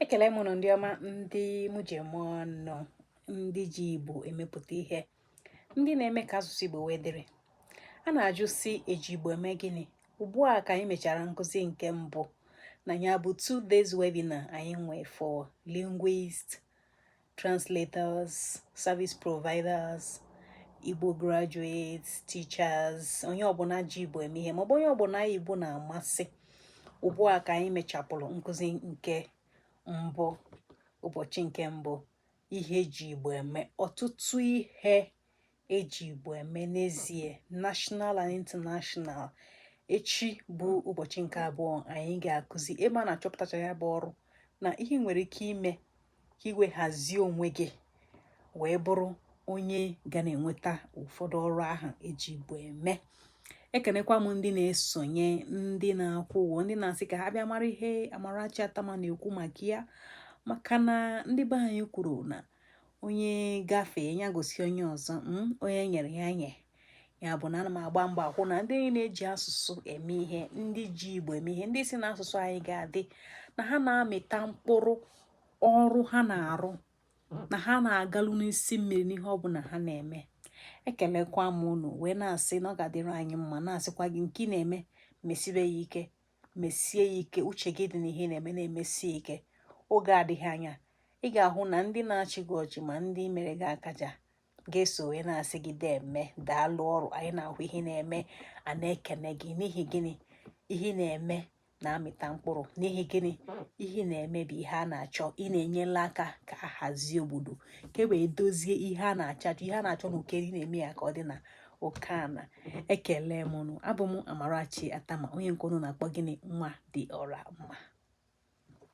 ekele m ụnụ ndị ọma ndị mụ ji eme ọnụ ndị ji igbo emepụta ihe ndị na-eme ka asụsụ igbo wee dịrị a na-ajụ sị e ji igbo eme gịnị ugbu a ka anyị mechara nkụzi nke mbụ na ya bụ two days webinar anyị nwee for linguist translators service providers igbo graduates teachers onye ọbụla ji igbo eme ihe maọbụ onye ọbụla igbo na-amasị ugbu a ka anyị mechapụrụ nkụzi nke mbụ ụbọchị nke mbụ ihe eji igbo eme ọtụtụ ihe eji Igbo eme n'ezie national and international echi bụ ụbọchị nke abụọ anyị ga-akụzi ebe a na-achọpụtacha ya bụ ọrụ na ihe i nwere ike ime ka i wee hazie onwe gị wee bụrụ onye ga na-enweta ụfọdụ ọrụ ahụ eji Igbo eme ekenekwa m ndị na-esonye ndị na-akwụ ụgwọ ndị na-asị ka ha bịa mara ihe Amarachi Attamah na-ekwu maka ya maka na ndị be anyị kwuru na onye gafee ya gosi onye ọzọ hmm, onye e nyere ya nye ya bụ na ana m agba mbọ ka a hụ na ndị niile ji asụsụ eme ihe ndị ji igbo eme ihe ndị sị na asụsụ anyị ga-adị na ha na-amịta mkpụrụ ọrụ ha na-arụ na ha na-agalu n'isi mmiri n'ihe ọ bụla ha na-eme ekelekwa m unu wee na-asị na ọ ga-adịrị anyị mma na-asịkwa gị nke ị na-eme mesibe ya ike mesie ya ike uche gị dị n'ihe ị na-eme na-emesie ike oge adịghị anya ị ga-ahụ na ndị na-achị gị ọchị ma ndị mere gị akaja ga-eso wee na-asị gị deeme daalụ ọrụ anyị na-ahụ ihe ị na-eme a na-ekene gị n'ihi gịnị ihe ị na-eme na-amịta mkpụrụ n'ihi gịnị ihe ị na-eme bụ ihe a na-achọ ị na-enyela aka ka a hazie obodo ka e wee dozie ihe a na-achọ ihe a na-achọ na uko elu ị na-eme ya ka ọ dị na uko ana ekele m unu abụ m amarachi attamah onye nke unu na-akpọ gịnị nwa dị ọra mma